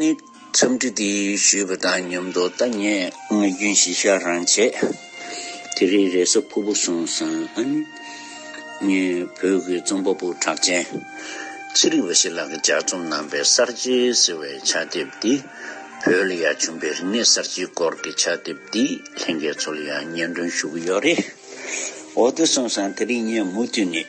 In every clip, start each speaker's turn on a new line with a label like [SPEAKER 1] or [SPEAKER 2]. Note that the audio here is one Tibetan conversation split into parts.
[SPEAKER 1] ནི། འཚམས་འདྲི་འདི་ཞུས་པ་དང་མཉམ་དུ་ལྟ་ངན་ངག་རྒྱུན་བཞི་བཤགས་རང་བྱས། དེ་རིང་རེས་གཟའ་ཕུར་བུ་སོང་སང་ཨ་ནི། ངའི་བོད་ཀྱི་རྩོམ་པ་པོ་གྲགས་ཅན། ཚེ་རིང་བ་ཞིག་ལགས་ཀྱི་ལྗགས་རྩོམ་གནང་པའི་གསར་བརྗེ་ཟེར་བའི་ཕྱག་དེབ་འདི། བོད་ལ་ཡ་བྱུང་པའི་རིག་གནས་གསར་བརྗེའི་སྐོར་གྱི་ཕྱག་དེབ་འདི་ལྷན་རྒྱས་ཚོ་ལ་ཡང་སྙན་སྒྲོན་ཞུ་གི་ཡོད་རེད། འོ་དེ་སོང་སང་དེ་རིང་ངས་མུ་མཐུད་ནས།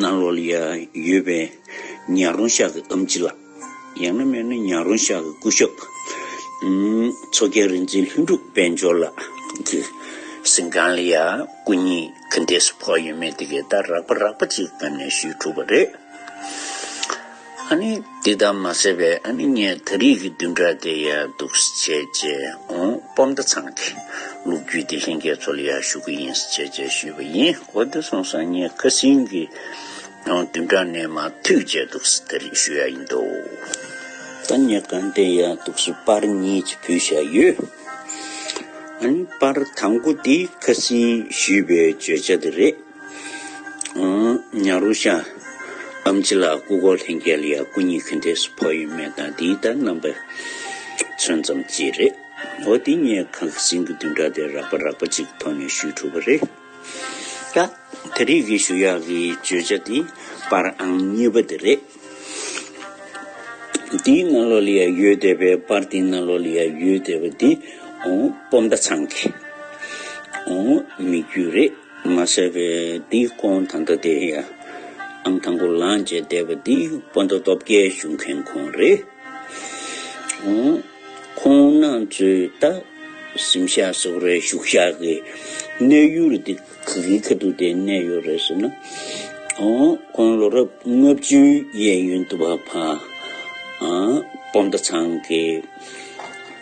[SPEAKER 1] ན་ལོལ་ཡ་ཡོད་པས་ཉག་རོང་ཤག་གི་ཨམ་ཅི་ལགས། ཡང་ན་མེད་ན་ཉག་རོང་ཤག་གི་སྐུ་ཞབས། མཚོ་རྒྱལ་རིག་འཛིན་ལྷུན་གྲུབ་དཔལ་འབྱོར་ལགས་ཀྱི་ཟིན་ཁང་ལ་ཡང་སྐུ་ཉིད་གུས་འདེད་སུ་ཕོག་ཡོད་མེད་དེ་གའི་ལྟར་རགས་པ་རགས་པ་ཅིག་བཀབ་ནས་ཞུས་ཐུབ་པ་རེད། ཨ་ནི་འདི་ལྟར་མ་ཟེར་བས་ཨ་ནི་ངས་ད་རིས་ཀྱི་བདུན་ཕྲག་དེ་ཡག་སྡུག་བྱས་རྗེས་འོང་སྤོབས་མདའ་ཚང་གི་ལུག་རྒྱུད་དེ་ལྷན་རྒྱས་ཚོ་ལ་ཡར་ཞུ་གི་ཡིན་ཟེར་རྗེས་ཞུས་པ་ཡིན་གོ་དེ་སོང་སང་ངས་ཁ་སིང་གི་བདུན་ཕྲག་ནས་མ་ཐུག་རྗེས་སྡུག་ས་ད་རིས་ཞུ་ཡ་ཡིན་འདུག་ཨ་ནི་གང་དེ་ཡག་སྡུག་སུ་པར་གཉིས་ཀྱི་བུ་བཞག་ཡོད། ཨ་ནི་པར་དང་པོ་དེ་ཁ་སིང་ཞུས་པའི་བརྗོད་བྱ་དེ་རེད། ཉྭ་རོ་ཤ། ཨམ་ཙི་ལ་སྐུ་གོ་ལྷན་རྒྱལ་ཡ་སྐུ་གཉིས་ཁུ་འདེགས་སུ་ཕོག་ཡོད་མེད་དང་དེའི་དར་རྣམ་པ་ཚོན་ཙམ་གཅིག་རེད། འོ་དེ་གཉིས་གང་གི་གཟིངས་ཀྱི་བདུན་ཕྲག་དེར་རག་པ་རག་པ་གཅིག་གི་ཐོག་ནས་ཞུས་ཐུབ་པ་རེད། ད་ད་རེས་ཀྱི་ཞུ་ཡག་གི་བརྗོད་བྱ་དེ་པར་ཨང་གཉིས་པ་དེ་རེད། དེའི་ནང་ལོགས་ལ་ཡ་ཡོད་བསྡད་པས་པར་དེའི་ནང་ལོགས་ལ་ཡ་ཡོད་བསྡད་པ་དེ་སྤོབས་མཐའ་ཚང་གི་མི་རྒྱུད་རེད། མ་བསད་པའི་འདི་སྐོང་ད་ལྟ་དེ་ཡ་ཨམ་དང་པོ་ལངས་རྗེས་བསྡད་པ་འདི་སྤོ་མདོ་སྟོབས་རྒྱལ་བཞུགས་མཁན་ཁོང་རེད། ཁོང་རྣམས་ཚོས་ད་གཟིམ་ཤག་སོགས་རེད་བཞུགས་ཤག་གི་གནས་ཡུལ་དེ་ག་གི་ཁ་ཐུག་དེ་གནས་ཡོད་རེད་ཟེར་ན། ཁོང་ལོ་རབས་ལྔ་བཅུའི་གཡས་གཡོན་དུ་བ་ཕ་སྤོ་མདོ་ཚང་གི།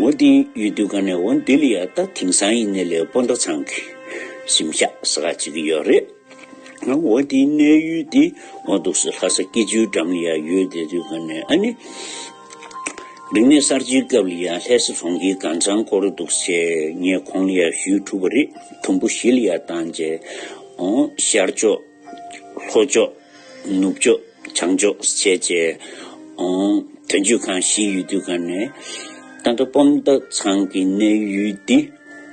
[SPEAKER 1] ཝོ་ཏིང་ཡུལ་དུས་ག་ནས་ཝོན་ལྡི་ལི་ཡ་ད་དེང་སང་ཡིན་ནི་ལས་སྤོ་མདོ་ཚང་གི་གཞིམ་བཞག་ས་ག་ཅིག་གི་ཡོད་རེད། ཡང་ཝོ་ཏིང་གནས་ཡུལ་དེ་ཝོན་དུག་སི་ལྷ་ས་སྐྱིད་ཆུའི་འགྲམ་ལི་ཡ་ཡོད་དེ་དུས་ག་ནས་ཨ་ནི། རིག་གནས་གསར་བརྗེའི་སྐབས་ལི་ཡ་ལྷས་སི་གྲོང་ཁྱེར་གང་ཚང་སྐོར་རུ་དུག་སེ་ངས་ཁོང་ལི་ཡ་བཞུས་ཐུབ་པ་རེད་དུམ་བུ་བཞི་ལི་ཡ་དང་བཅས་ཨོང་ཤར་ཕྱོགས། ལྷོ་ཕྱོགས། ནུབ་ཕྱོགས། བྱང་ཕྱོགས་སུ་བྱས་རྗེས། དོན་གཅོད་ཁང་བཞིའི་ཡུལ་དུས་སྐབས་ནས། རྟ་མདོ་སྤོམ་མདའ་ཚང་གི་གནས་ཡུལ་ཏེ།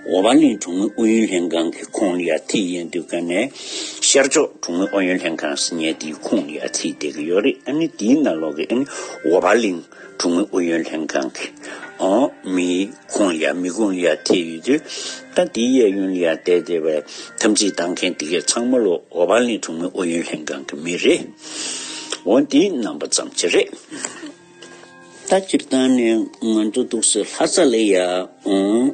[SPEAKER 1] འོ་བ་གླིང་གྲོང་མི་ཨུ་ཡོན་ལྷན་ཁང་གི་ཁོངས་ལ་ཡར་ཐིག་ཡན་དུས་སྐབས་ནས། ཤར་ཕྱོགས་གྲོང་མི་ཨུ་ཡོན་ལྷན་ཁང་སི་ཉའི་ཏིའི་ཁོངས་ལ་ཡར་ཐིག་འདེགས་ཀྱི་ཡོད་རེད། ཨ་ནི་དེའི་ནང་ལོགས་ཀྱི་ཨ་ནི་འོ་བ་གླིང། གྲོང་མི་ཨུ་ཡོན་ལྷན་ཁང་གི་ཨོ་མི་ཀོང་ཡ་མི་ཀོང་ཡ་དེ་ཡོད་དུས་ད་དེའི་གཡས་གཡོན་ལ་ཡར་བལྟས་བལྟས་པ་ཐམས་ཅད་ལྟ་མཁན་དེ་གས་ཚང་མ་ལོ་ཨོ་བ་ལིན་གྲོང་མི་ཨུ་ཡོན་ལྷན་ཁང་གི་མི་རེད་འོན་ཏེ་རྣམ་པ་ཙམ་གྱི་རེད། ད་སྤྱིར་བཏང་ནས་ང་ཚོ་འདུག་སའི་ལྷ་ས་ལ་ཡང་ཨོ།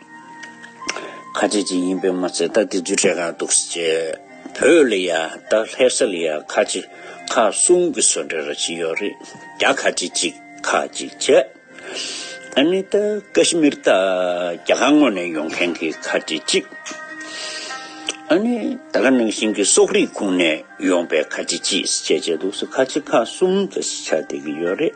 [SPEAKER 1] ཁ་ཆེ་ཅིག་ཡིན་པས་མ་ཚད་རྟ་དེ་རྫུས་ཕྲད་གང་འདུག་ཅེས་བོས་ལ་ཡ་རྟ་ལྷས་ས་ལ་ཡ་ཁ་ཆེ་ཁ་གསུམ་གྱི་སོ་འདྲེ་ར་ཅིག་ཡོད་རེད་རྒྱ་ཁ་ཆེ་ཅིག་ཁ་ཅིག་བྱས། ཨ་མི་རྟ་ཀ་ཤི་མིར་རྟ་རྒྱ་གར་ངོས་ནས་ཡོང་མཁན་གྱི་ཁ་ཆེ་ཅིག། ཨ་ནི་ད་ག་ནང་བཞིན་གྱི་སོག་རིགས་ཁུངས་ནས་ཡོང་པའི་ཁ་ཆེ་ཅིག་ཅེས་བྱས་འདུག་ཁ་ཆེ་ཁ་གསུམ་ཅེས་བྱ་བསྡད་ཀྱི་ཡོད་རེད།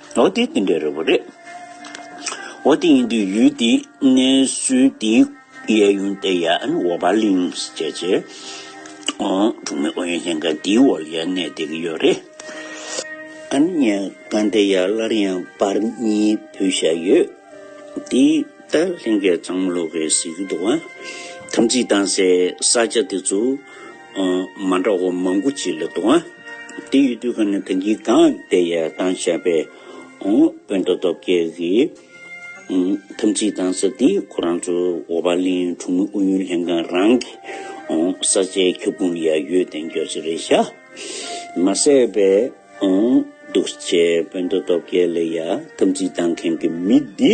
[SPEAKER 1] ཨོ་དེ་དེ་འདྲ་རེད་བོ་རེད། ཨོ་དེ་ཡིན་དུས་ཡུལ་དེའི་གནས་ཚུལ་དེའི་གཡས་གཡོན་སྟེ་ཡ་ཨན་ཝོ་བཱ་ལིང་ཞེས་བྱ་བའི་གྲོང་མི་ཨོ་ཡོན་ལྷན་ཁང་དེའི་འོག་ཡ་གནས་སྡེ་གི་ཡོད་རེད། ཨན་ཡ་གནས་དེ་ཡ་སླར་ཡང་བར་གཉིས་བུད་བཞག་ཡོད། དེ་ལྟར་ལྷན་སྐྱེས་གཙང་མ་ལུག་གི་གཟིགས་རྡོ་བ་དམ་ཚིག་དྭངས་སའི་ས་ཆ་དེ་ཚོ། མ་འདྲ་བ་མང་པོ་གཅིག་ལ་དུ། དེ་ཡོད་དུས་གང་ནས་དོན་གྱིས་གང་དེ་ཡལ་གཏང་བྱ་བའི། དཔོན་མདོ་སྟོབས་རྒྱལ་གྱིས། དམ་ཚིག་གཏང་ས་འདི་ཁོ་རང་ཚོ་འོ་བ་གླིང་གྲོང་མི་ཨུ་ཡོན་ལྷན་ཁང་རང་གི། ས་ཆའི་ཁྱབ་ཁོངས་ཡ་ཡོད་དེ་མགྱོགས་ཚེ་རེད་ཤག་མ་ཟེར་བས། འདུག་བྱས་དཔོན་མདོ་སྟོབས་རྒྱལ་ལ་ཡ་དམ་ཚིག་གཏང་མཁན་གྱི་མི་འདི།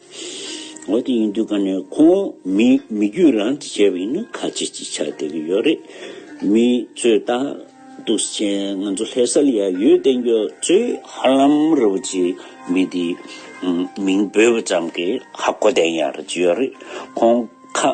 [SPEAKER 1] འོ་དེ་ཡིན་དུས་ག་ནས་ཁོང་མི་མི་རྒྱུད་རང་གིས་བྱས་པ་ཡིན་ན་ཁ་ཅིག་ཅིག་ཆགས་བསྡད་ཀྱི་ཡོད་རེད། མི་ཚོས་ལྟ་འདུག་སེ་མཆན་ང་ཚོ་ལྷས་གསལ་ཡ་ཡོད་བསྟན་རྒྱུ་ཚོས་ཧ་ལམ་རི་བོ་ཆེའི་མི་དེའི་མིང་འབོད་པ་ཙམ་གྱིས་ཧ་གོ་བསྡད་ཡག་རེད་ཅི་ཡོད་རེད་ཁོང་ཁ་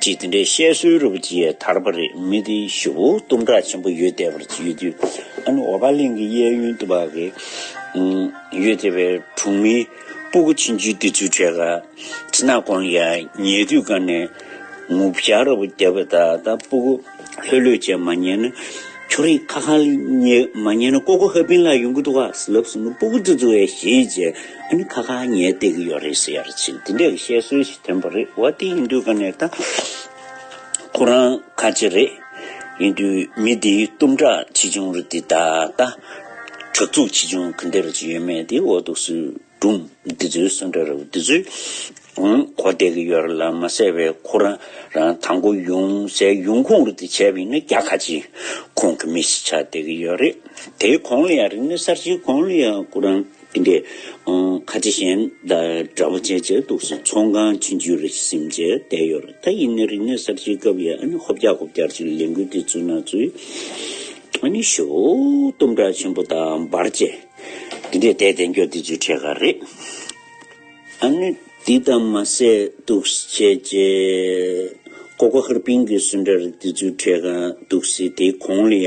[SPEAKER 1] ཅིག་དེ་འདྲའི་བཤད་སྲོལ་རུ་པ་ཅིག་ཡས་དར་པ་རེད་མི་དེ་ཞུ་བོ་གཏུམ་དྲག་ཆེན་པོ་ཡོད་དད་པར་ཡོད་དུས་ཨ་ནུ་འོ་བ་གླིང་གི་གཡས་གཡོན་དུ་བ་གི་ཡོད་དད་པའི་གྲོང་མི་སྤུ་གུ་ཆེན་བཅུའི་དེ་ཚུལ་འཕྲད་ག་ཚི་ན་གོང་ཡ་ཉེ་དུས་ག་ནས་ངུ་བྱ་རུ་པ་རྒྱབ་པ་ད་ད་སྤུ་གུ་ལྷོད་ལྷོད་བྱས་མ་ཉན་ན་ཁྱོ་རིག་ཁ་ཁ་ལ་ཉེ་མ་ཉན་ན་ཀོ་ཀོ་ཧ་པིན་ལ་ཡོང་གི་འདུག་ག་ཟི་ལབ་སུ་ནུ་སྤུ་གུ་དུ་ཚུ་བས་ཞེས་བྱས། ཨིན་ཁ་ཁ་ཉལ་བསྡད་ཀྱི་ཡོད་རེད་ཟེར་ཡར་ཕྱིན་དེ་འདྲའི་བཤད་སྲོལ་ཞིག་ཐོན་པ་རེད་བ་དེ་ཡིན་དུས་ག་ནས་ད་ཁོ་རང་ཁ་ལྕེ་རེད་ཡིན་དུས་མི་དེའི་གཏུམ་དྲག་ཆེ་ཆུང་རུ་དེ་ད་ལྟ་དྲག་རྩུག་ཆེ་ཆུང་གི་འདིར་ཅི་ཡོད་མེད་དེ་འོག་ཏུ་སུས་སྒྲུང་འདི་ཚོའི་གསོན་འདྲ་རེད་བ་དེ་ཚོའི་གོ་བསྡད་ཀྱི་ཡོད་རེད་ལ་མ་གསལ་བའི་ཁོ་རང་རང་ད་མགོ་ཡུང་ཟས་ཡུང་ཁུང་རུ་དེ་བྱས་པ་ཡིན་ན་རྒྱ་ཁ་ཆེ་ཁོང་གི་མི་ཞིག་ཆགས་བསྡད་ཀྱི་ཡོད་རེད་དེའི་གོང་ལ་ཡང་རིག་གནས་གསར་བརྗེའི་གོང་ལ་ཡང་ཁོ་རང། དེ་འདྲའི་ཁ་ཆེ་གཞན་འདྲ་བོ་བྱས་བྱས་འདུག་ཟེར་ཚོང་ཁང་ཕྱི་འཇུས་རེ་ཟིན་བྱས་བསྡད་ཡོད་རེད་ད་ཡིན་ནའི་རིག་གནས་གསར་བརྗེའི་སྐབས་ཡས་ཨ་ནི་ཧོབ་རྒྱག་ཧོབ་རྒྱག་ཅིག་ལས་འགུལ་དེ་བཙུད་ན་བཙུད་ཨ་ནི་ཞོ་གཏུམ་དྲག་ཆེན་པོ་དང་འབར་བཅས་དེ་འདྲའི་དད་དད་འགྱོ་དེ་ཚོའི་གྲས་ཁ་རེད་ཨ་ནི་དེ་ལྟ་མ་ཟད་འདུག་བྱས་བྱས་ཀོ་ཀོ་ཧར་པིན་གྱི་སུན་ཏྲ་རིགས་དེ་ཚོའི་གྲས་ཁ་འདུག་སེ་དེའི་གོང་ལ་ཡ།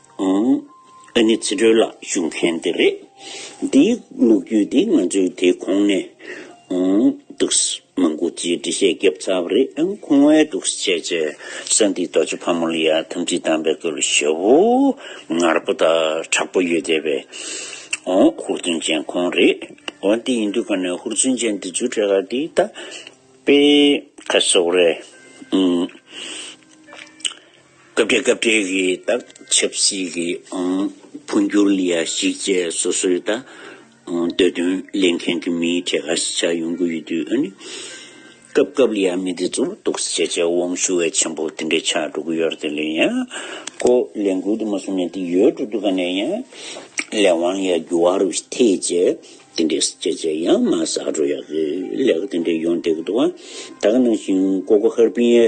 [SPEAKER 1] ཨང། ཨ་ནི་ཚིག་འགྲོས་ལ་ཞུགས་མཁན་དེ་རེད། འདི་ལུག་རྒྱུད་དེ་ང་ཚོས་དེ་གོང་ནས། ཨང། འདུག། མང་པོ་ཅིག་འབྲི་བཤད་རྒྱབ་ཚར་བ་རེད་ཨང་ཁུང་བས་འདུག་བྱས་བྱས་ས་འདི་རྡོ་རྗེ་ཕག་མོ་ལ་ཡང་ཐམས་ཅད་དམ་པའི་སྐུ་ལ་ཞབས་བོ་ངར་པོ་དང་དྲག་པོ་ཡོད་བསྡད་པའི། ཨང། ཧུར་བརྩོན་ཅན་ཁོང་རེད། འོ་འདི་ཡིན་དུས་གང་ནས་ཧུར་བརྩོན་ཅན་འདི་ཚོའི་གྲས་ཁ་འདི་ད། པའི། ཁ་སོགས་རེད། ཨང། སྐབས་འབྲེལ་སྐབས་འབྲེལ་གྱི་དག་ཆབ་སྲིད་ཀྱི་འཕོ་འགྱུར་ལ་གཞིགས་རྗེས་སོ་སོའི་ད་གདོད་དོན་ལེན་མཁན་གྱི་མིའི་གྲས་ཁ་ཤས་ཆགས་ཡོང་གི་ཡོད་དུས་ཨ་ནི་སྐབས་སྐབས་ལ་ཡང་མི་དེ་ཚོར་གཏུགས་བཤད་བྱས་དབང་ཤུགས་འེ་ཆེན་པོ་དེ་འདྲས་ཆགས་འགྲོ་གི་ཡོད་རེད་དེ་ལས་ཡང་ཁོ་ལས་འགུལ་དུ་མ་བཟུང་ནས་དེ་ཡོད་དུ་འདུག་ག་ནས་ཡང་ལས་དབང་ལ་འགྱུར་བ་རུ་ཐེ་ཅེས་དེ་འདྲས་བཤད་བྱས་ཡང་མ་བསགས་འགྲོ་ཡག་གི་ལས་ཀ་དེ་འདྲས་ཡོང་བསྡད་ཀྱི་འདུག་བ་ད་ག་ནང་བཞིན་ཀོ་ཀོ་ཧར་པིན་ཨེ་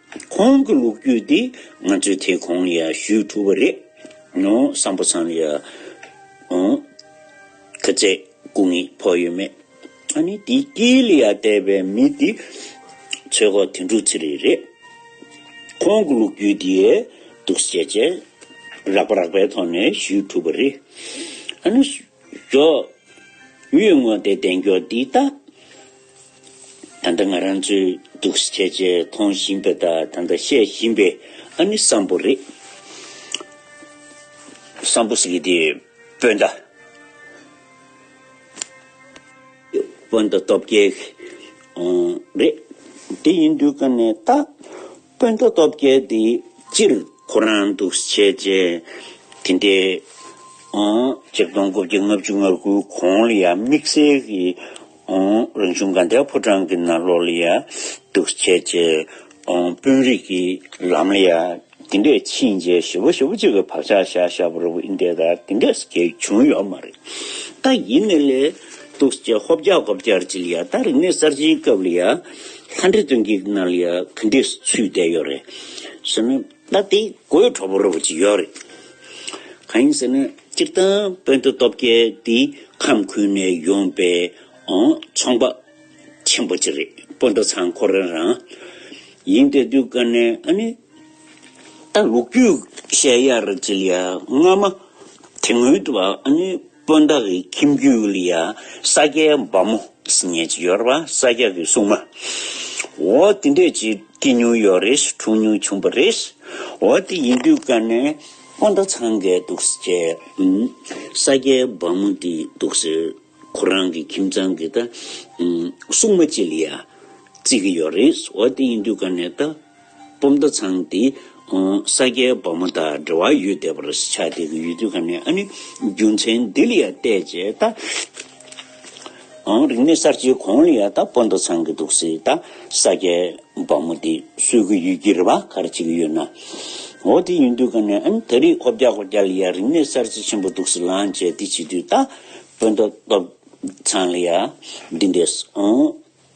[SPEAKER 1] ཁོང་གི་ལོ་རྒྱུས་འདི་ང་ཚོས་དེ་གོང་ཡང་ཞུས་ཐུབ་པ་རེད། བསམ་པོ་ཚང་ཡ། ཁ་རྩེད་སྐུ་ངལ་ཕོག་ཡོད་མེད། ཨ་ནི་དེ་སྐྱིད་ལ་ཡ་བལྟས་པའི་མི་དེ་ཚོད་ཁོག་དེ་འགྲོ་ཚེ་རེད་རེད། ཁོང་གི་ལོ་རྒྱུས་འདི་སྡུག་སྐྱེད་ཆེད་རགས་པ་རགས་པའི་ཐོག་ནས་ཞུས་ཐུབ་པ་རེད། ཨ་ནི། རྒྱོབ། གཡུལ་དངོས་དེ་བདེན་སྐྱོར་འདི་ལྟ། ད་ལྟ་ང་རང་ཚོའི་སྡུག་ས་ཆེ་ཆེ་མཐོང་བཞིན་པའི་ད་ད་ལྟ་བཤད་བཞིན་པའི་ཨ་ནི་བསམ་བོ་རེད། བསམ་བོ་ཟེར་གི་དེ་སྤོས་མདའ། སྤོས་མདའ་སྟོབས་རྒྱལ། རེད། དེ་ཡིན་དུས་ཀ་ནས་ད། དཔོན་པོ་སྟོབས་རྒྱལ་འདི་སྤྱིར་ཁོ་རང་འདུག་བྱེད་ཅེས། དེ་འདྲའི། གཅིག་སྟོང་དགུ་བརྒྱ་ལྔ་བཅུ་ང་དགུའི་གོང་ལ་ཡང་དམིགས་བསལ་གྱི། རང་བྱུང་དགའ་ལྡན་ཕོ་བྲང་གི་ནང་ལོགས་ལ་ཡང་འདུག་བྱེད་ཅེས། དཔོན་རིགས་ཀྱི་ལམ་ལ་ཡང་དེ་འདྲས་ཕྱིན་རྗེས་ཞི་བ་ཞི་བ་གཅིག་གི་བག་ཆགས་བཞག་བཞག་པར་འི་འདྲས་དག་དེ་འདྲས་སུ་གྱེས་བྱུང་ཡོད་མ་རེད། ད་ཡིན་ནས་ལས། འདུག་བྱེད་ཧོབ་རྒྱག་གོབ་རྒྱག་ཅི་ལ་ཡ་ད་རིག་གནས་གསར་བརྗེའི་སྐབས་ལ་ཡ། ལྷ་འདྲེ་སྟོན་གྱི་ན་ལི་ཡ་གི་འདྲེ་ཚུལ་བསྡད་ཡོད་རེད། ཟེར་ནས་ད་དེ་གོས་གྲོགས་པོ་རེད་པ་ཅིག་ཡོད་རེད། གང་ཡིན་ཟེར་ནས་སྤྱིར་བཏང་དཔོན་ཏོ་སྟོབས་རྒྱལ་དེའི་ཁམས་ཁུལ་ནས་ཡོང་པའི་ཚོང་པ་ཆེན་པོ་ཅིག་རེད་དཔོན་ཏོ་ཚང་ཁོ་རང་རང་ཡིན་དེ་དུས་ཀ་ནས་ཨ་ནི་ད་ལུག་རྒྱུད་བཤད་ཡ་རེད་ཅི་ལ་ཡ་སྔ་མ་དེ་སྔོན་དུ་བ་ཨ་ནི། སྤུན་ཟླ་ཀྱི་ཁྱིམ་རྒྱུད་ལ་ཡང་ས་སྐྱའི་འབར་མོ་ཉལ་གྱི་ཡོད་རེད་བ་ས་སྐྱ་ཀྱི་སྲུང་མ། འོ་དེ་འདྲས་ཀྱི་སྐྱེས་མྱོང་ཡོད་རེད་འཁྲུངས་མྱོང་བྱུང་བ་རེད། འོ་དེ་ཡིན་དུས་ཀ་ནས་སྤུན་ཟླ་ཚང་འགས་འདུག་ཟེར་བྱས། ས་སྐྱའི་འབར་མོ་འདི་འདུག་ཟེར་ཁོ་རང་གི་ཁྱིམ་ཚང་གི་ད་སྲུང་མ་ཅིག་ལ་ཡང་བརྩི་གི་ཡོད་རེད་འོ་དེ་ཡིན་དུས་ཀ་ནས་ད་སྤོམ་མདའ་ཚང་འདི་ས་སྐྱའི་འབར་མོ་དང་འབྲེལ་བ་ཡོད་བསྡད་པར་ཆགས་འདི་གི་ཡུལ་དུས་ག་ནས་ཨ་ནི་རྒྱུ་མཚན་འདི་ལ་ཡང་བལྟས་རྗེས་ད་རིག་གནས་གསར་བརྗེའི་གོང་ལ་ཡང་ད་སྤོ་མདའ་ཚང་གི་འདུག་སྲིད་ད་ས་སྐྱའི་འབར་མོ་འདི་གསོད་ཀྱི་ཡོད་ཀྱི་རེད་བ་ག་རེ་བྱེད་ཀྱི་ཡོད་ན་འོ་དེ་ཡིན་དུས་ག་ནས་ཨ་ནི་ད་རིག་ཧོ་བརྒྱག་ཧོ་བརྒྱག་ལ་ཡང་རིག་གནས་གསར་བརྗེ་ཆེན་པོ་འདུག་སྲིད་ལངས་རྗེས་འདི་བྱེད་དུས་ད་སྤོ་མདའ་ཚང་ལ་ཡང་འདི་འདྲས་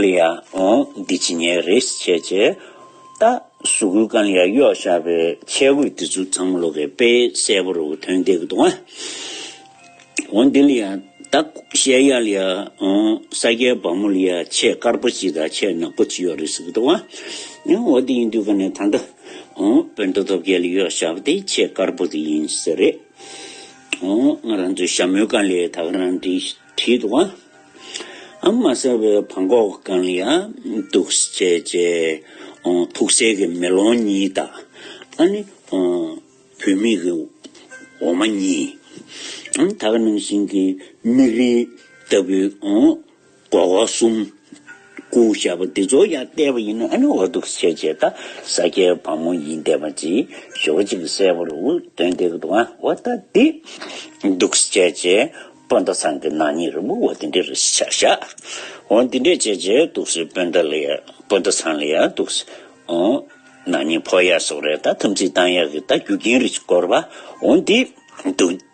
[SPEAKER 1] ལི་ཡ་འོང་འདི་ཇི་ཉེ་རེས་བྱས་བྱས་ད་ཟུ་གུ་ཀན་ལི་ཡ་གཡོག་བཞག་པའི་ཆས་གོས་འདི་ཚོ་ཚང་མ་ལོ་ཀའི་དཔེ་གསལ་པོ་རུ་ཐོན་བསྡད་གི་འདུག་ཨང། འོང་འདི་ལི་ཡ་ད་ཤལ་ཡ་ལི་ཡ་འོང་ས་སྐྱའི་བ་མོ་ལི་ཡ་ཆས་དཀར་པོ་ཅི་དང་ཆས་ནག་པོ་ཅི་གཡོག་རེས་ཟེར་གི་འདུག་ཨང། འོ་དེ་ཡིན་དུས་ཀ་ནས་ད་ལྟ་འོང་བོད་མདོ་སྟོབས་རྒྱལ་ལི་གཡོག་བཞག་པ་དེ་ཆས་དཀར་པོ་དེ་ཡིན་ཟེར། འོང་ང་རང་ཚོའི་ཞྭ་མོའི་ཀན་ལི་ཡ་ད་ག་རང་འདྲི། བྲིས་འདུག་ཨང། ཨང་མ་གསལ་བའི་བང་ཁོག་རྐང་ཡང་འདུག་ཅེས་བཅད། ཐུགས་སྲས་ཀྱི་མེ་ལོང་གཉིས་དང། ཨ་ནི། བུད་མེད་ཀྱི་འོ་མ་གཉིས། ད་ག་ནང་བཞིན་གྱི་མིག་རིལ་ལྟ་བུའི། སྒོག་སྒོག་གསུམ། སྐུ་ཞབས་བདེ་མཚོ་ཡང་བལྟས་པ་ཡིན་ནོ་ཨ་ནི་འོ་འདུག་ཟེར་རྗེས་ད་ས་སྐྱའི་བ་མོ་ཡིན་བལྟས་པ་ཅི་ཞོག་ཅིག་གསལ་བོར་འུར་བཏོན་ཏེ་འདུག་ཨ་འོ་ད་འདི་འདུག་བྱས་རྗེས་སྤོན་ཟླ་ཚང་གི་ནང་ཉིད་རིང་པོ་འོ་འདི་འདྲས་རེད་བྱས་བྱས་འོ་འདི་འདྲས་བྱས་རྗེས་འདུག་སྤོན་ཟླ་ལ་ཡང་སྤོན་ཟླ་ཚང་ལ་ཡང་འདུག་འོ་ནང་ཉིད་ཕོག་ཡག་སོགས་རེད་ད་དམ་ཚིག་བཏང་ཡག་གི་ད་རྒྱུ་རྐྱེན་རིགས་བསྐོར་བ་འོ་འདི་འདུག།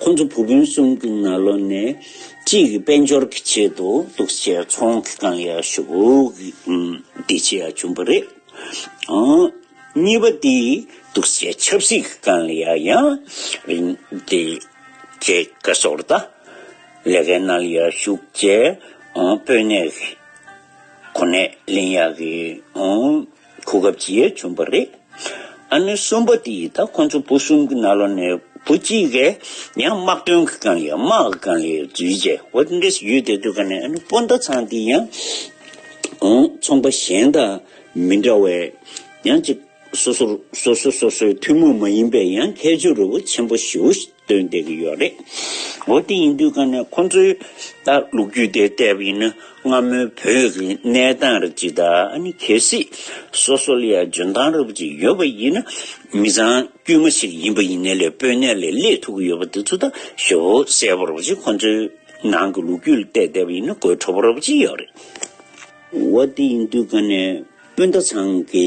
[SPEAKER 1] ཁོ་ཚོ་བུ་སྤུན་གསུམ་གྱི་ན་ལོ་ནས་གཅིག་གི་དཔལ་འབྱོར་གྱི་ཆེད་དུ་སྡུག་སྐྱེལ་ཚོང་གི་རྐང་ཡར་ཞུགས་བདེ་སྐྱིད་ཡར་བྱུང་བ་རེད། གཉིས་པ་དེ་སྡུག་སྐྱེལ་ཆབ་སྲིད་ཀྱི་རྐང་ཡར་ཡང་རིང་བདེ་སྐྱིད་ཀྱི་ཞོར་དུ་ལས་ཀའི་རྣལ་ཡར་ཞུགས་བཅས་དཔོན་གནས་ཀྱི་གོ་གནས་ལེན་ཡག་གི། གོ་སྐབས་རྗེས་བྱུང་བ་རེད། ཨ་ནུ་གསུམ་པོ་དེ་ཡིས་ད་ཁོ་ཚོ་བུ་གསུམ་གྱི་ནང་ལོགས་ནས་བུ་གཅིག་གིས་ཡང་དམག་དོན་གྱི་ཀང་ཡའི་དམག་གི་ཀང་ཡའི་འཛུལ་རྗེས་ཝེ་ཏི་འདིས་ཡུལ་དེ་དུས་ཀ་ནས་ཨ་ནུ་སྤུན་ཟླ་ཚང་དེ་ཡང་གོང་ཚོང་པ་གཞན་དང་མི་འདྲ་བས་ཡང་གཅིག་སོ་སོར་སོ་སོ་སོ་སོའི་ཐུན་མོང་མ་ཡིན་པའི་ཡང་ཁྱད་ཆོས་རུ་བོ་ཆེན་པོ་ཞུ་སྟོན་བསྡད་ཀྱི་ཡོད་རེད། འོ་དེ་ཡིན་དུས་ཀ་ནས་ཁོང་ཚོས་ད་ལུག་རྒྱུད་དེ་བལྟས་པ་ཡིན་ན་སྔ་མོའི་བོད་ཀྱི་གནས་སྟངས་རབ་ཅིག་དང་ཨ་ནི་གལ་སྲིད་སོ་སོ་ལ་ཡང་འཇོན་ཐང་རབ་ཅིག་ཡོད་པ་ཡིན་ན་མི་ཚང་དཀྱུས་མ་ཞིག་ཡིན་པ་ཡིན་ནའི་ལས་དཔོན་གནས་ལས་སླེ་ཐུབ་ཀྱི་ཡོད་པ་དེ་ཚོ་ད་ཞོ་བོ་གསལ་པོ་རབ་ཅིག་ཁོང་ཚོའི་ནང་གི་ལུག་རྒྱུད་ལ་བལྟས་བསྡད་པ་ཡིན་ན་དགོད་བྲོ་བོ་རབ་ཅིག་ཡོད་རེད། འོ་དེ་ཡིན་དུས་ཀ་ནས་སྤུན་ཟླ་ཚང་གི་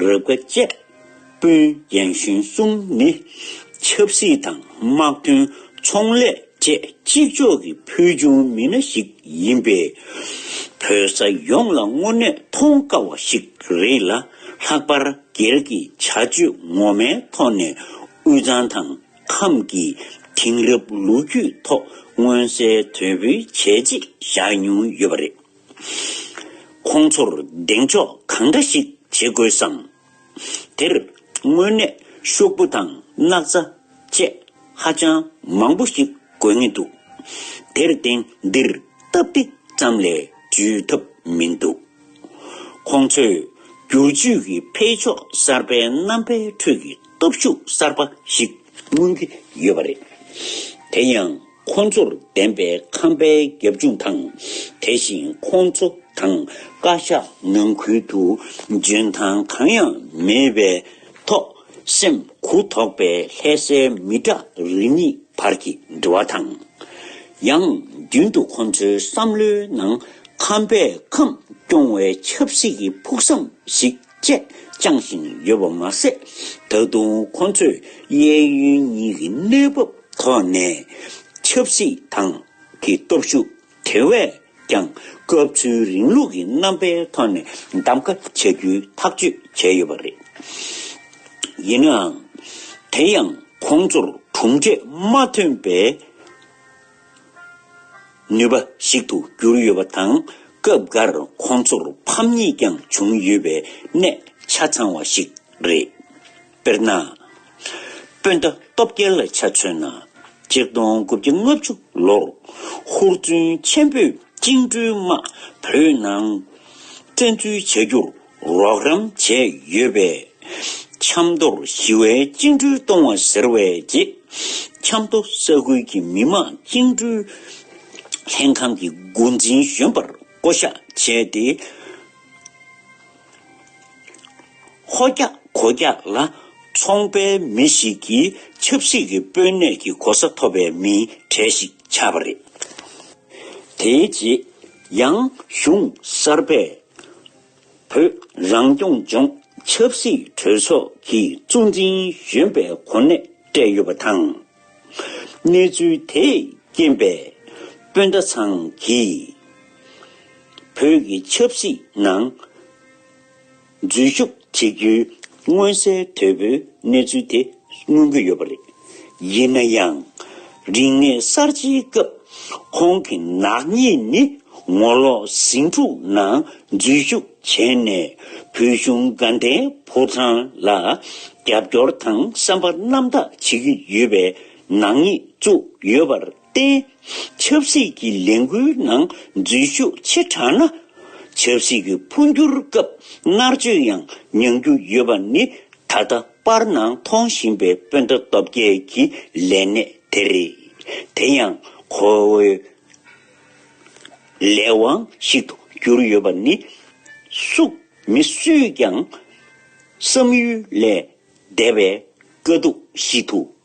[SPEAKER 1] རབ་དགའ་དཔྱད་དཔོན་རྒན་གཞོན་གསུམ་ནི་ཆབ་སྲིད་དང་དམག་དོན་ཚོང་ལས་བཅས་གཅིག་ལྕོགས་ཀྱི་ཕུལ་བྱུང་མི་སྣ་ཞིག་ཡིན་པས། བོད་ས་ཡོངས་ལ་དངོས་གནས་མཐོང་དཀའ་བ་ཞིག་རེད་ལ་ལྷག་པར་སྒེར་གྱི་བྱ་སྤྱོད་ངོ་མའི་ཐོག་ནས་དབུས་གཙང་དང་ཁམས་ཀྱི་དེང་རབས་ལོ་རྒྱུས་ཐོག་མངོན་གསལ་དོད་པོའི་བྱས་རྗེས་བཞག་མྱོང་ཡོད་པ་རེད། ཁོང་ཚོར་གདེང་འཇོག་གང་འདྲ་ཞིག་བྱེད་དགོས་སམ། དེར་དངོས་གནས་ཤོག་བུ་དང་སྣག་ཚ་བཅས་ཧ་ཅང་མང་པོ་ཞིག་དགོས་ངེས་འདུག་དེར་བརྟེན་འདིར་སྟབས་བདེ་ཙམ་ལས་འཇུས་ཐབས་མི་འདུག་ཁོང་ཚོས་སྒྱུར་བཅོས་ཀྱི་འཕེལ་ཕྱོགས་གསར་པའི་རྣམ་པའི་ཁྲོད་ཀྱི་སྟོབས་ཤུགས་གསར་པ་ཞིག་མངོན་གྱི་ཡོད་པ་རེད། དེ་ཡང། ཁོང་ཚོར་བདེན་པའི་ཁམས་པའི་རྒྱབ་ལྗོངས་དང། དེ་བཞིན་ཁོང་ཚོ་དང་བཀའ་ཤག་ནང་ཁུལ་དུ་འཇོན་ཐང་གང་ཡང་མེད་པའི་ཐོག་སེམས་གུ་དོག་པའི་ལྷད་སའི་མི་དྲག་རུས་གཉིས་བར་གྱི་འབྲེལ་བ་དང། ཡང་རྒྱུན་དུ་ཁོང་ཚོའི་བསམ་བློའི་ནང་ཁམས་པའི་ཁམས་སྐྱོང་བའི་ཆབ་སྲིད་ཀྱི་ཕུགས་བསམ་ཞིག་བཅས་བསྐྱངས་བཞིན་ཡོད་པ་མ་ཟད། ད་དུང་ཁོ་ཚོས་གཡས་གཡོན་གཉིས་ཀྱི་གནས་བབ་ཐོག་ནས་ཆབ་སྲིད་ཏང་གི་སྟོབས་ཤུགས་དེ་བས་ཀྱང་སྐབས་འཚོལ་རིང་ལུགས་ཀྱི་རྣམ་པའི་ཐོག་ནས་གདམ་ག་བྱ་རྒྱུའི་ཐག་གཅོད་བྱས་ཡོད་པ་རེད། ཡིན་ནའང། དེ་ཡང་ཁོང་ཚོར་གྲུབ་འབྲས་མ་ཐོན་པའི། ནུས་པ་ཞིག་ཏུ་གྱུར་ཡོད་པ་དང་སྐབས་འགར་ཁོང་ཚོར་ཕམ་ཉེས་ཀྱང་བྱུང་ཡོད་པའི་གནད་ཆ་ཚང་བ་ཞིག་རེད། དཔེར་ན། སྤུན་ཟླ་སྟོབས་རྒྱལ་ལ་ཆ་མཚོན་ན་སྤྱིར་བཏང་དགུ་བརྒྱ་ལྔ་བཅུ་ལོར་ཧུར་བརྩོན་ཆེན་པོས་བཅིངས་འགྲོལ་དམག་བོད་ནང་བཙན་འཛུལ་བྱ་རྒྱུར་རོགས་རམ་བྱས་ཡོད་པས། ཆབ་མདོར་ཞི་བའི་བཅིངས་འགྲོལ་གཏོང་བ་ཟེར་བའི་རྗེས་ཆབ་མདོ་ས་ཁུལ་གྱི་མི་དམངས་བཅིངས་འགྲོལ་ལྷན་ཁང་གི་འགོ་འཛིན་གཞོན་པར་བསྐོ་གཞག་བྱས་ཏེ། ཧོ་རྒྱ་གོ་རྒྱ་ལ་ཚོང་པའི་མི་ཞིག་གིས་ཆབ་སྲིད་ཀྱི་དཔོན་གནས་ཀྱི་གོ་ས་ཐོབ་པའི་མིའི་གྲས་ཤིག་ཆགས་པ་རེད། དེའི་རྗེས་ཡང་གཞུང་གསར་པས། བོད་རང་སྐྱོང་ལྗོངས་ཆབ་སྲིད་གྲོས་ཚོགས་ཀྱི་གཙོ་འཛིན་གཞོན་པའི་གོ་གནས་སྤྲད་ཡོད་པ་དང། གནས་ཚུལ་དེས་རྐྱེན་པས་སྤུན་ཟླ་ཚང་གིས་བོད་ཀྱི་ཆབ་སྲིད་ནང་འཛུལ་ཞུགས་བྱེད་རྒྱུའི་མངོན་གསལ་དོད་པོའི་གནས་ཚུལ་དེ་མངོན་གྱི་ཡོད་པ་རེད། ཡིན་ན་ཡང། རིག་གནས་གསར་བརྗེའི་སྐབས་ཁོང་གི་ནག་ཉེས་ནི་ངོ་ལོག་ཟིང་འཁྲུག་ནང་འཛུལ་ཞུགས་བྱས་ནས་བོད་གཞུང་དགའ་ལྡན་ཕོ་བྲང་ལ་རྒྱབ་སྐྱོར་དང་བསམ་པ་རྣམ་དག་བྱེད་ཀྱི་ཡོད་པའི་ནག་ཉེས་བཙུགས་ཡོད་པ་རེད། བརྟེན། ཆབ་སྲིད་ཀྱི་ལས་འགུལ་ནང་འཛུལ་ཞུགས་ཆེ་དྲགས་ན། ཆབ་སྲིད་ཀྱི་འཕོ་འགྱུར་སྐབས་མནར་གཅོད་ཡང་མྱང་རྒྱུ་ཡོད་པ་ནི་ད་ལྟ་པར་སྣང་མཐོང་བཞིན་པའི་སྤུན་ཟླ་སྟོབས་རྒྱལ་གྱི་ལས་གནས་དེ་རེད། དེ་ཡང་ཁོ་བོའི་ལས་དབང་ཞིག་ཏུ་གྱུར་ཡོད་པ་ནི་སུ་མི་སུས་ཀྱང་བསམ་ཡུལ་ལས་འདས་པའི་དཀའ་སྡུག་ཞིག་ཏུ་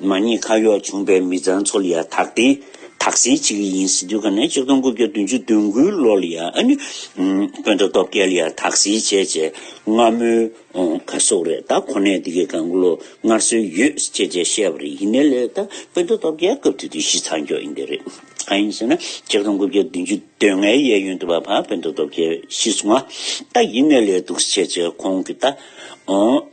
[SPEAKER 1] མ་ཉེས་ཁག་གཡོག་བྱུང་པའི་མི་ཚང་ཚོ་ལ་ཡང་དག་དེ་དག་སེལ་བྱེད་ཀྱི་ཡིན་ཟེར་དུས་ཁ་ནས་གཅིག་སྟོང་དགུ་བརྒྱ་བདུན་ཅུ་བདུན་དགུའི་ལོ་ལ་ཡང་དཔོན་དང་སྟོབས་རྒྱལ་ལ་ཡང་དག་སེལ་བྱས་བྱས་སྔ་མོའི་ག་གསོག་རེད་ད་ཁོ་ནས་འདི་གའི་གང་བློ་སྔར་སྲོལ་ཡོད་ཅེས་བྱས་བཤད་པ་རེད་ཡིན་ནའི་ལས་ད་དཔོན་དང་སྟོབས་རྒྱལ་སྐབས་དེ་དུས་གཞི་ཚགས་མགྱོགས་ཡིན་པས་རེད་གང་ཡིན་ཟེར་ན་གཅིག་སྟོང་དགུ་བརྒྱ་བདུན་ཅུ་དོན་ལྔའི་གཡས་གཡོན་དུ་བ་ཕ་དཔོན་དང་སྟོབས་རྒྱལ་ཤི་སོང་ང་ད་ཡིན་ནའི་ལས་འདུག་ཟེར་བྱས་བྱས་ཁོང་གིས་ད་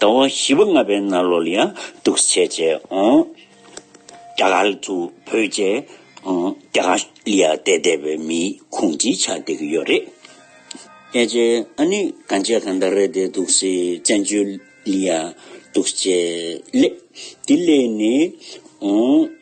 [SPEAKER 1] ཟླ་བ་བཞི་པ་ལྔ་པའི་ན་ལོ་ལ་ཡང་འདུག་བྱས་བྱས་རྒྱ་གར་དུ་བོད་རྒྱ་རྒྱ་གར་ལ་ཡང་བསྡད་བསྡད་པའི་མི་ཁུངས་ཀྱི་ཆ་བསྡད་ཀྱི་ཡོད་རེད། ཀྱེ་ཀྱེ་ཨ་ནི་གང་བྱས་གང་བསྡད་རེད་བསྡད་འདུག་སེ་བཙན་བྱོལ་ལ་ཡང་འདུག་བྱས་ལེ་དེ་ལས་ནི།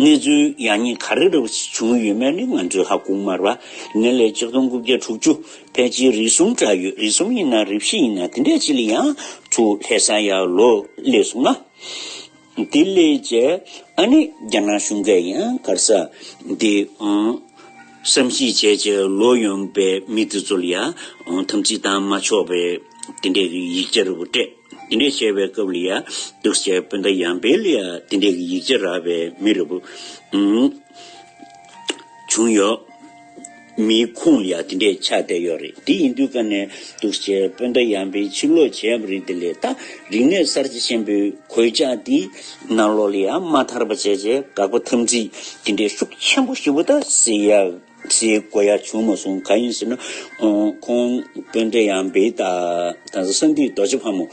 [SPEAKER 1] གནས་ཚུལ་ཡག་ཉེས་ག་རེ་རེ་བྱུང་ཡོད་མེད་ནི་ང་ཚོས་ཧ་གོ་མར་བ། ངེད་ལས་གཅིག་སྟོང་དགུ་བརྒྱ་དྲུག་ཅུ་ཕལ་ཆེར་རིས་གསུམ་འདྲ་ཡོད་རིས་གསུམ་ཡིན་ན་རིས་བཞི་ཡིན་ན་དེ་འདྲས་ཅིག་ལ་ཡང་ཚུར་ལྷད་ས་ཡག་ལོ་ལེགས་སོང་ང། དེ་ལས་རྗེས་ཨ་ནི་རྒྱ་ནག་གཞུང་གས་ཡང་གར་ས་དེ། བསམ་གཞིག་བྱས་རྗེས་ལོ་ཡོངས་པའི་མི་དེ་ཚོ་ལ་ཡང་དམ་ཚིག་དང་མ་ཆོག་པའི་དེ་འདྲས་ཀྱི་ཡིག་ཆ་རིལ་བོ་སྤྲད། དེ་འདྲས་བྱས་པའི་སྐབས་ལ་ཡང་འདུག་བྱས་སྤུན་ཟླ་ཡང་པའི་ལ་ཡང་དེ་འདྲས་ཀྱི་ཡིག་ཆ་རག་པའི་མི་རིལ་བོ་བྱུང་ཡོད། མིའི་ཁུངས་ལ་ཡང་དེ་འདྲས་ཆགས་བསྡད་ཡོད་རེད་དེ་ཡིན་དུས་ཀ་ནས་འདུག་བྱས་སྤུན་ཟླ་ཡང་པའི་ཕྱིར་ལོག་བྱས་པ་རེད་དེ་ལས་ད་རིག་གནས་གསར་བརྗེ་ཆེན་པོའི་གོད་ཆགས་འདི་ནང་ལོགས་ལས་ཡང་མ་ཐར་བ་བྱས་བྱས་དགག་པ་ཐམས་ཅད་ཀྱི་འདྲེ་ཤུགས་ཆེན་པོ་ཞིག་པོ་ད་སེ་ཡ་སེ་གོ་ཡ་བྱུང་མ་སོང་ག་ཡིན་ཟེར་ན། ཁོང་དཔོན་འདྲེ་ཡང་བི་ད་དང་ཟ་ས་འདིའི་རྡོ་རྗེ་ཕ་མོ་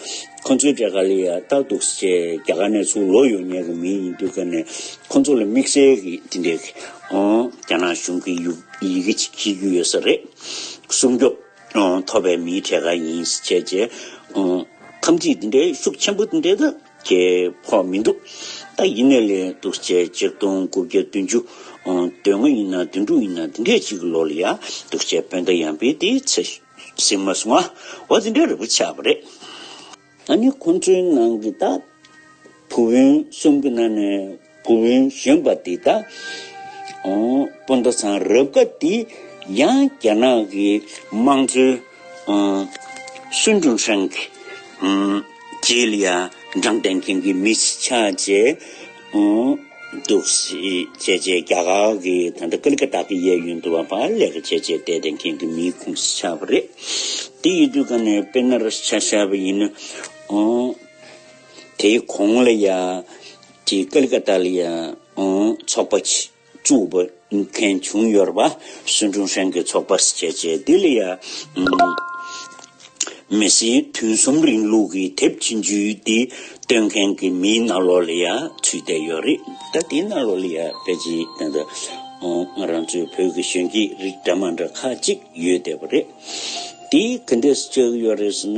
[SPEAKER 1] ཁོ་ཚོའི་འདྲེ་ག་ལེ་ཡ་རྟག་འདུག་ཟེར་བྱས་རྒྱ་གར་ནས་ཚུར་ལོག་ཡོད་ཉེ་གི་མི་ཡིན་དུས་ག་ནས་ཁོ་ཚོ་ལ་དམིགས་བསལ་གི་དེ་འདྲའི་རྒྱ་ནག་གཞུང་གི་ཡི་གེ་ཅིག་ཤེས་རྒྱུ་ཡོད་ས་རེད། སྲུང་སྐྱོབ་ཐོབ་པའི་མིའི་གྲས་ག་ཡིན་ཟེར་བྱས་ཐམས་ཅད་དེ་འདྲའི་ཤུགས་ཆེན་པོ་དེ་འདྲའི་ད། ཁྱེད་ཕོག་མི་འདུག་ད་ཡིན་ནས་ལས་འདུག་བཅས་གཅིག་སྟོང་དགུ་བརྒྱ་བདུན་ཅུ་དོན་ལྔ་ཡིན་ན་དོན་དྲུག་ཡིན་ན་འདི་འདྲའི་ཅིག་ལོ་ལ་ཡག་འདུག་བཅས་སྤོན་ཟླ་ཡང་པའི་དེའི་ཚེ་ཟིན་མ་སོང་བ་འདི་འདྲའི་རིག་པ་ཆགས་པ་རེད། ད་ནི་ཁོང་ཚོའི་ནང་གི་ད་བུ་བོན་གསུམ་གྱི་ནང་ནས། བུ་བུན་གཞོན་པ་འདི་དག་སྤུན་ཟླ་ཚང་རབ་དགའ་འདི་ཡང་རྒྱ་ནག་གི་དམངས་གཙོའི་སུན་ཀྲུང་ཧྲེང་གི་རྗེས་ལ་འབྲངས་གཏན་འཁེལ་གྱི་མི་ཆགས་བཅས་འདུག་བྱས་རྗེས་རྒྱ་གར་གྱི་ད་ལྟ་ཀཱ་ལི་ཀ་ཏཱ་གི་གཡས་གཡོན་དུ་བ་པཱ་ལེ་ཀ་བྱས་རྗེས་འདས་གཏན་འཁེལ་གྱི་མིའི་ཁུངས་སུ་ཆགས་པ་རེད། དེ་ཡི་དུས་ཀ་ནས་བེ་ན་ར་སི་ཆགས་བཞག་པ་ཡིན། དེའི་གོང་ལ་ཡང། ཀྱི་ཀལ་ཀ་ཏཱ་ལི་ཚོགས་པ་བཙུགས་པ་མཁན་བྱུང་ཡོད་པ་སུན་ཀྲུང་ཧྲན་གྱི་ཚོགས་པར་བྱས་རྗེས་ལྡི་ལི་ཡ་མི་སེར་དུས་གསུམ་རིང་ལུགས་ཀྱི་དེབ་ཆེན་བརྒྱུད་དེ་སྟོན་མཁན་གྱི་མིའི་ནང་ལོགས་ལ་ཡང་ཚུད་བསྡད་ཡོད་རེད་ད་དེའི་ནང་ལོགས་ལ་ཡང་པེ་ཅིང་དང་ང་རང་ཚོའི་བོད་ཀྱི་གཞོན་སྐྱེས་རིགས་འདྲ་མ་འདྲ་ཁག་ཅིག་ཡོད་བསྡད་པ་རེད་དེ་ག་འདྲས་སུ་བཅུག་ཡོད་རེད་ཟེར་ན།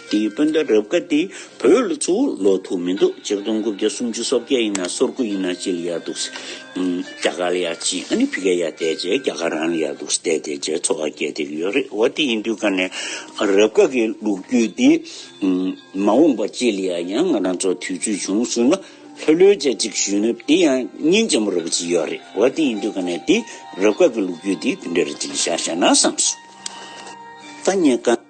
[SPEAKER 1] དེའི་སྤུན་ཟླ་རབ་དགའ་དེ་བོད་ལ་གཙོ་བོ་ལོག་ཐུག་མི་འདུག་སྤྱིར་བཏང་དགུ་བརྒྱ་སུམ་ཅུ་སོ་བརྒྱད་ཡིན་ན་སོར་དགུ་ཡིན་ན་སྤྱི་ལ་ཡར་འདུག་སེ། རྒྱ་གར་ལ་ཡར་སྤྱི་ཨ་ནི་ཕི་ཀའི་ཡར་བསྡད་རྗེས་རྒྱ་གར་རང་ལ་ཡར་འདུག་སེ་བསྡད་དེ་རྗེས་འཚོ་བ་སྐྱེལ་ཐེབས་ཀྱི་ཡོད་རེད་འོ་དེ་ཡིན་དུས་ཀ་ནས་རབ་དགའ་གི་ལུགས་རྒྱུད་དེ་མ་འོངས་པ་སྤྱི་ལ་ཡར་ཡང་ང་རང་ཚོ་དུས་ཚོད་བྱུང་ཚུལ་ན་ལྷོད་ལྷོད་བྱེད་ཅིག་ཞུས་ནུབ་དེ་ཡང་སྙིང་རྗེ་མོ་རེ་བོ་ཅིག་ཡོད་རེད་འོ་དེ་ཡིན་དུས་ཀ་ནས་དེ་རབ་དགའ་གི་ལུགས་རྒྱུད་དེ་དེ་འདྲ་རེ་བྱེད་ཀྱི་ཤག་ཤག་ན་བསམས་སོང་ད་ཉེ་ཀ།